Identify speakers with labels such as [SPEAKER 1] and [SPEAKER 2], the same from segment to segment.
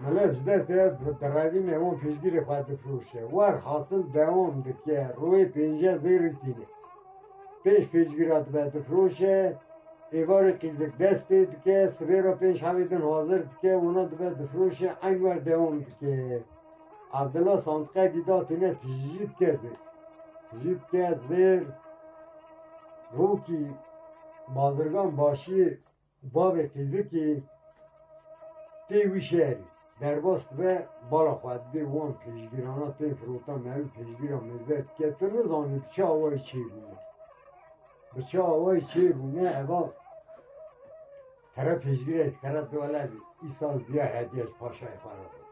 [SPEAKER 1] Mele ji destê derevînê wan piştgirê xwe difroşe. Wer hasil dewam dike royê pênce zêrîn tîne. Pênc piştgira dibe difroşe, êvarê qîzik dest pê dike, sibê re pênc hevê din hazir dike, wana dibe difroşe eyn wer dewam dike. Evdila santiqekî da tîne tijî dike zêr. Tijî dike zêr rokî bazirgan başiyê Bavê Fîzikî tê wî şerî. Derbas dibe bala xwe didê wan pêşgîrana tên firota meriv pêşgîra mêzde dike. Tu nizanî bi çi awayî çêbûne. Bi çi awayî çêbûne eva tere pêşgîrek tere tu wele îsal biya hediyej paşayê xwe re bibin.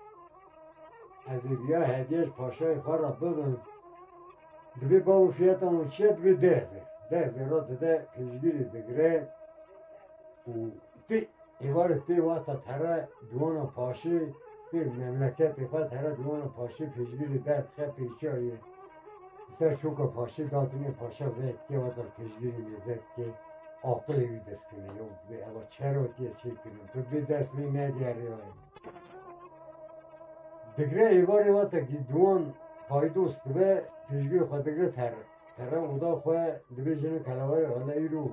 [SPEAKER 1] Ez ê biya hediyej paşayê xwe re bibin. Divê bav û fiyata wan çi ye? Divê deh hezar. Deh hezar ra dide pêşgirê digire û tê êvarê tê wexta here duwana paşê tê memleketê xwe here duwana paşê pêşgirê derdixe pêçayê. Ser şoka paşê datinê paşa vê tê wexta pêşgirê lêzet dike aqilê wî dest kene. Yo divê eva çera tê çêkirin. Tu divê dest wê negerê. Digre êvarê ve tekî duwan paydos dibe pêşgê xwe digre terre. Terre oda xwe dibê jina kelewerê xwe ne îro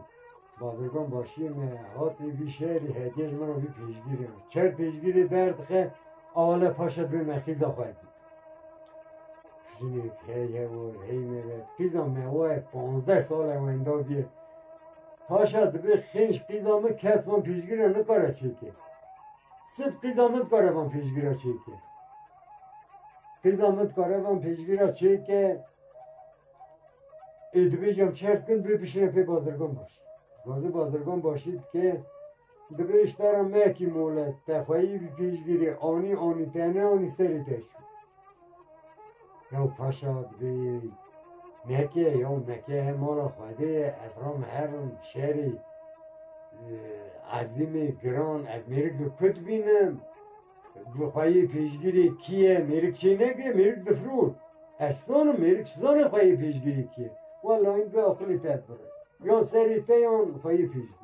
[SPEAKER 1] bazirgan başiyê me hatê vî şerî hediye ji min re vî pêşgirê me. Çer pêşgirê derdixin awale paşa dibê me xîza xwe dî. Jinê heye û heyne ve qîza me waye panzdeh sale wenda bîye. Paşa dibe xênj qîza min kes van pêşgire nikare çêke. Sif qîza min dikare van pêşgire çêke. Qîza min dikare van pêşgire çêke. Ê dibêjam çerkin bê bişire pê bazirgan baş. Bazir bazirgan başî dike Dibe îştara mekî mole texweyî bi pêşgirê anî anî tene anî serê te şû. Yaw paşa dibê meke yaw meke he mala xwedê ye ez ram herim şerê ezîmê giran ez mêrik li kut bînim bi xweyî pêşgirê kî ye mêrik çê neke mêrik difrû ez sonim mêrik zanê xweyî pêşgirê kî ye. Wallahî bi aqilê te bire. Yan serê te yan xweyî pêşgirê.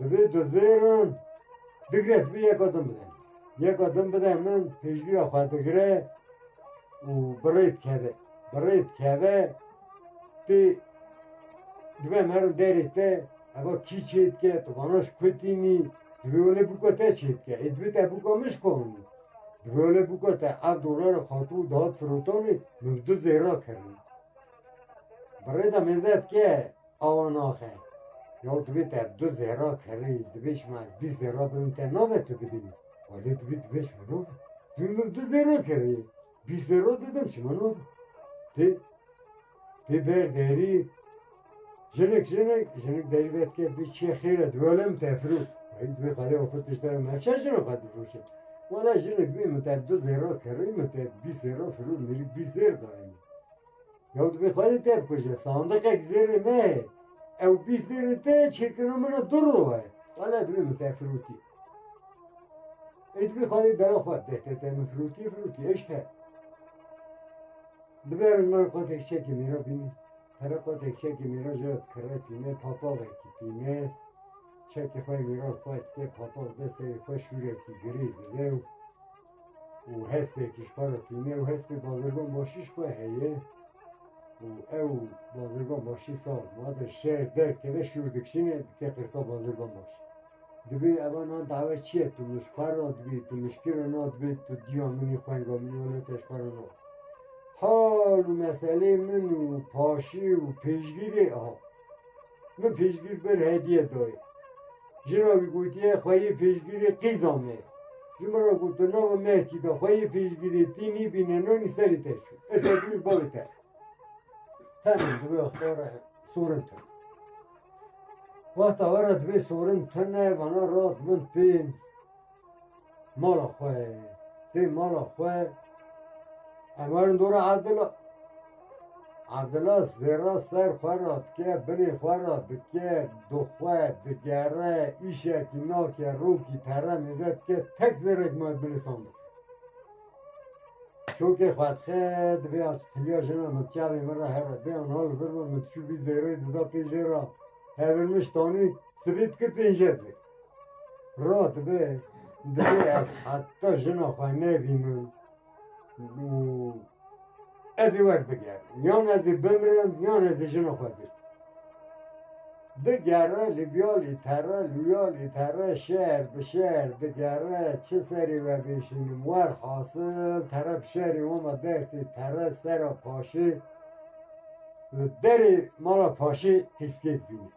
[SPEAKER 1] Divê tu zêrin digre tu yeka din bide. Yeka din bide min pêşviya xwe digre û birê dikeve. Birê dikeve tê dibe merin derê te eva kî çê dike tu vana ji kutînî divê wele bûka te çê dike. Ê divê te bûka min ji konî. Divê wele bûka te ev dolara xatû dihat firotanê min bi tu zêra kirin. Birê de mêze dike Awa naxe. Ya divê te du zêra kerê divê şima ez bîst zêra bidim te nabe tu bidî. Walê divê divê şima nabe. Divê min du zêra kerê. Bîst zêra didim şima nabe. Tê tê ber derî jinik jinik jinik derî vet ke bî çiye xêre divê walê min te firû. Hey divê xalê xwe tişte nefşe jinik xwe difrûşe. Wala jinik bî min te du zêra kerê min te bîst zêra firû mirî bîst zêr dayê min. Ew divê xwe dê tevkuje. Sandiqek zêrê me ye. Ew bîst zêrê te ye çêkirina min e du roj e. Wala divê min te firotî. Ê divê xwe dê bela xwe deh te te min firotî firotî eş te. Divê ez min xwe tek çekê mêra bînî. Pere xwe tek çekê mêra ji kire tîne papavekî tîne. Çekê xwe mêra xwe tê papav de serê xwe şûrekî girê dive û û hespê kişxwara tîne û hespê bazirgan başî ji xwe heye û ew bazirgan başî sar mate şer derkeve şûr dikişîne dike qirsa bazirgan baş. Dibê evan na dawe çi ye tu min ji xwe re dibî tu min ji kê re na dibê tu diya min ê xwenga min ê wele te ji xwe re na. Hal û meselê min û paşê û pêşgirê a. Min pêşgir bir hediye dayê. Jina wî gotiye xwe yê pêşgirê qîza me. Ji min re got tu nava Mehkî de xwe yê pêşgirê tî nîbîne nanî serê te çû. Ez tevî bavê te. Tenê divê xara sorin tu. Wexta were divê sorin tune vana rat min pê Mala xwe tê mala xwe em werin dora Evdila. Evdila zêra ser xwe ra dike, binê xwe ra dike, dixwe, digere, îşekî nake, rokî pere mêze dike, tek zêrek me bilisan dike. Çokê xwe dixe, divê az tiliya jina min çavê min ra here, bê an hal vir min, min çû vî zêrê dida pê jê ra, hevirmiş tanî, sibî dikir pêncez zêr. Rot be divê ez heta jina xwe nebînim û ez ê wek bigerim. Yan ez ê bimirim yan ez ê jina xwe bikim. Digere li biyalî pere li wiyalî pere şer bi şer digere çi serê we bêşînim wer hasil pere bi şerê wama dertê pere sera paşê li derê mala paşê pîskek bîne.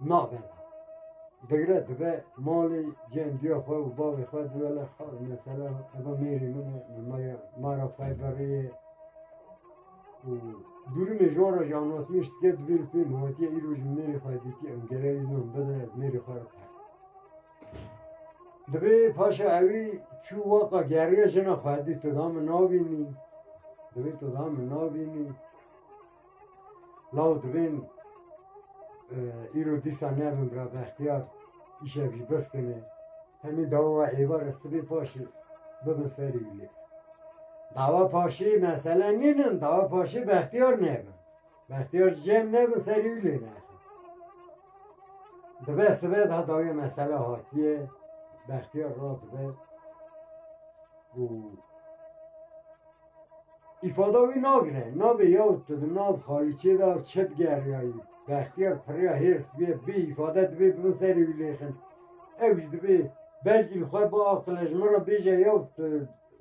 [SPEAKER 1] nabe da. Digre dibe malê cem diya xwe û bavê xwe diwele ha mesela eva mêrê min e min maya mara xwe beriyê û dûrimê ji wan re ji anlatmê ji tike dibê li pê min hatiye îro ji mêrê xwe dîtî em gere îznan bide ez mêrê xwe re per dibê paşa ewî çû waka geriya jina xwe dî tu da min nabînî dibê tu da min nabînî Law divên îro dîsa nevin bira bextiyar îşev jî bes kene. Hemî dawa êvar e sibê paşê bibin serî wî lê. Dawa paşê mesele nînin, dawa paşê bextiyar nevin. Bextiyar cem nevin serî wî lê nexin. Dibe sibe da dawiyê mesele hatiye, bextiyar raz dibe û Îfada wî nagire, nabê ya û tu di nav xalîçê de çi digeriyayî. Bextiyar pirriya hêrs bîye bê îfade dibê bibin serê wî lê xin. Ew jî dibê belkî li xwe biaqile ji min re bêje ya û tu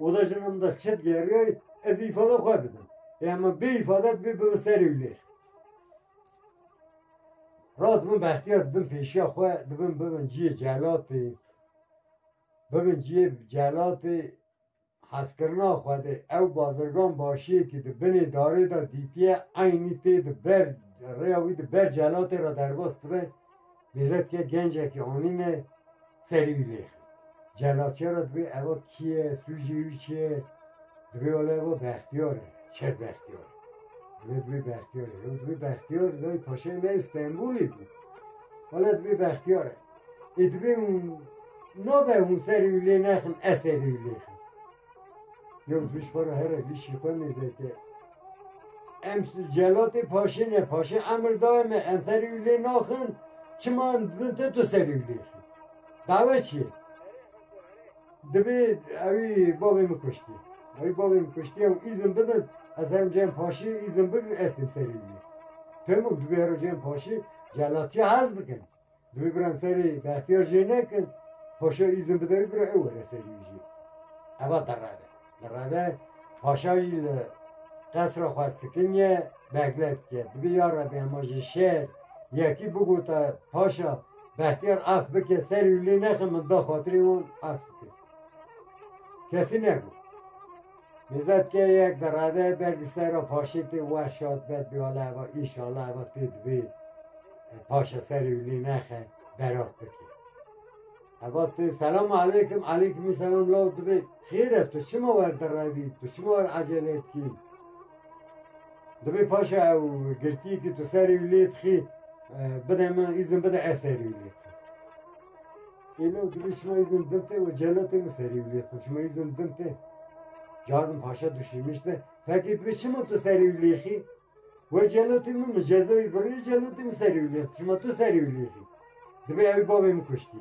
[SPEAKER 1] oda jin min de çi digeriyayî ez îfada xwe bidim. Ê hema bê îfade dibê bibin serê wî lê xin. Ra dibin bextiyar dibin pêşiya xwe dibin bibin ciyê celatê, bibin ciyê celatê. Hezkirina Xwedê, ew bazirgan başiyekî di binê darê de dîtiye, eynî tê di ber rêya wî di ber celatê re derbas dibe, bêze dike gencekî anîne serî wî lêxin. Celat çê re dibê eva kî ye, sûcê wî çi ye, dibê wele eva Bextiyar e, Çer Bextiyar. Wele dibê Bextiyar e. Ew dibê Bextiyar, lay paşayê me yê Stenbolê bû. Wele dibê Bextiyar e. Ê dibê hûn nabe hûn serê wî lê nexin ez serê wî lê xin. Yew duş xwe re here vîşî xwe mêzeke. Em celatê paşê ne paşê emir daye me em serê wî lê naxin çima em dibin te tu serê wî lê xin. Dava çi ye? Dibê ewî bavê min kuştî. Ewî bavê min kuştî ew îzin bidin ez herim cem paşê îzin bigrin ez tim serê wî lê. Pemû dibê hero cem paşê celatiya hez dikin. Divê biram serê behtiyar jê nekin. Paşa îzin bide wî bira ew were serî wî jî. Eva dereve. Dereve paşa jî li qesra xwe sikinye beglet ye. Divê ya rebê hema ji şer yekî bigota paşa behtiyar af bike serî wî lê nexin min da xatirê wan af bike. Kesî nebû. Nizad ke yek bi rade ber bi ser o paşêtê wer şat ber bi ala eva îşala eva tê dibê paşa serê wîlê nexe berat bike. Eva tê selam aleykim aleykimî selam law dibê xêr e tu çima wer direvî tu çima wer acele dikî dibê paşa ew girtiyê ki tu serê wîlê dixî bide min îzin bide ez serê wîlê Êno dibê şima îzin din tê û celatê min serî wîlê xwe şima îzin din tê. Cadim paşa duşîmiş ne. Pekê dibê şima tu serî wîlê xî. We celatê min min cezayî birê celatê min serî wîlê xwe şima tu serî wîlê xî. Dibê ew bavê min kuştî.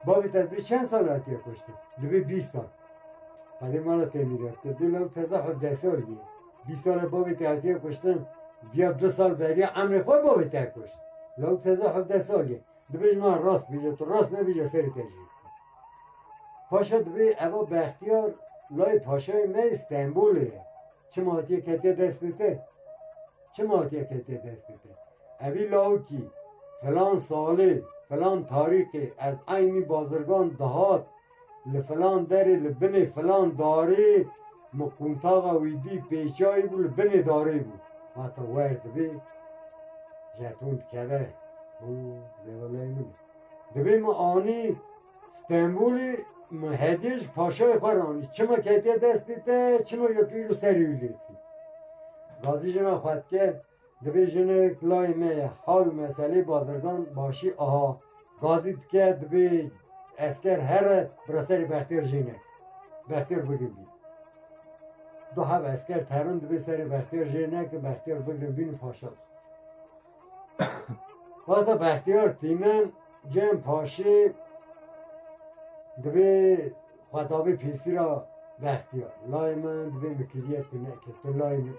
[SPEAKER 1] Bavê te dibê çend sal hatiye kuştin? Dibê bîst sal. Xalê mala temîrat te dê law teza hevdeh sal bî. Bîst sal bavê te hatiye kuştin. Diya du sal beriya emrê xwe bavê te kuşt. Law teza hevdeh sal ye. Dibê ji me rast bîje, tu rast nebî lê serê te jî. Paşa dibê eva Bextiyar layê paşayê me yê Stenbolê ye. Çima hatiye ketiye destê te? Çima hatiye ketiye destê te? Evî lawikî filan salê, filan tarîxê ez eynî bazirgan dihat Li filan derê, li binê filan darê min qûntaxa wî dî, pêşayî bû, li binê darê bû. Hate wer dibê jeton dikeve û lêweleyê min e. Dibê min anî Stenbolê min hediye ji paşayê xwe re anî. Çima ketiye destê te, çima yetûyî li serê wî lêfî. Gazî jina xwe dike. Divê jine kilayê me hal meselê bazirgan başî aha gazî dike divê esker here bira serê bextêr jine bextêr bigin bî. Du hev esker terin divê serê bextêr jine ki bextêr bigin bîn paşa. Vata bextêr tîmen cem paşê divê Xwetabê pêsira vextiya layê me divê min kiriyê tu neke tu layê min î.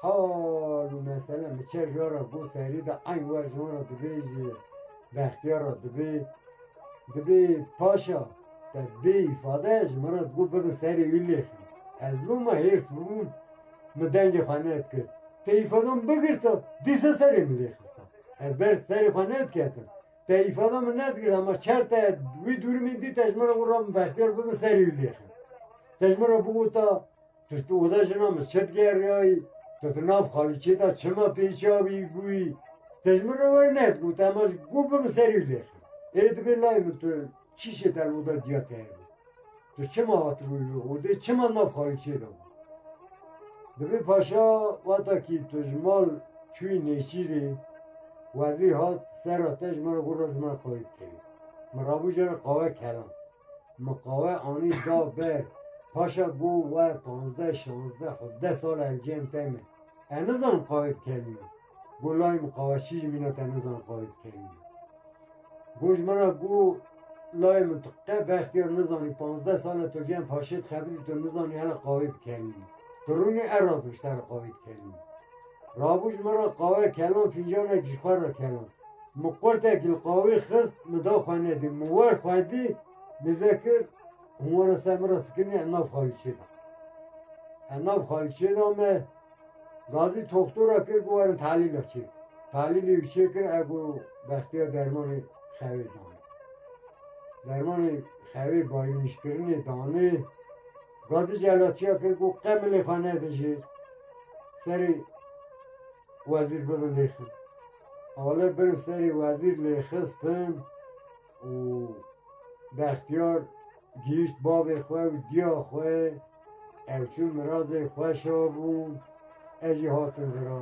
[SPEAKER 1] Hal û mesele mi çe ji ra bo serî de eyn wer ji wan re divê ji vextiya re divê divê paşa te bê îfade ji min re digo bibe serê wî lêx ez bûm me hêrs bûm mi dengê xwe nedikir te îfadan bigirta dîsa serê min lêxista ez ber serê xwe nediketim Te îfada min nedikir ama çer te wî dûrimîn dî te ji min re got rabin bextiyar bibin serî wî lêxin. Te ji min re bigota tu tu oda jina min çi digeriyayî tu tu nav xalîçê de çima pêçî avî bûyî te ji min re were nedigota ama ji gû bibin serî wî lêxin. Ê dibê layê min tu Çi jê der oda diya te hebû? Tu çima hatibû odê çima nav xalîçê de bû? Dibê paşa wata kî tu ji mal çûyî nêçîrê wezî hat sera te ji min re gora ji min re xalî bikerî. Min rabû jê re qawe kelan. Min qawe anî da ber. Paşa got we panzdeh, şanzdeh, hevdeh sal encêm te me. Ez nizanim qawe bikerî min. Gulay min qawaşî ji min re te nizanin xwedê bi kevî ye. Got ji min re ku lay min tu qe bextê re nizanin panzdeh sal e tu giyan paşê dixebitî tu nizanin hele qawê bi kevî ye. Tu rûnê erra tu ji te re qawê dikevî ye. Rabû ji min re qawe kelan fîncanekî ji xwe re kelan. Min qurtekî li qawê xist min da xwe nedî. Min wer xwedî nîze kir hûn were ser min re sikinî ev nav xalîçê da. Ev nav xalîçê da me. Gazî toxtora kir ku werin talîlek çê bike. Talîlê ku çê kir e ku Bextiyar dermanê xewê danê. Dermanê xewê bayirmîşkirinê danê. Gazî celatçiya kir ku qe milê xwe nede jêr. Serê wezîr bibin lêxin. Awale birin serê wezîr lêxistin û Bextiyar Gihîşt bavê xwe û diya xwe, ew çû mirazê xwe şa bû, ez jî hatim vira.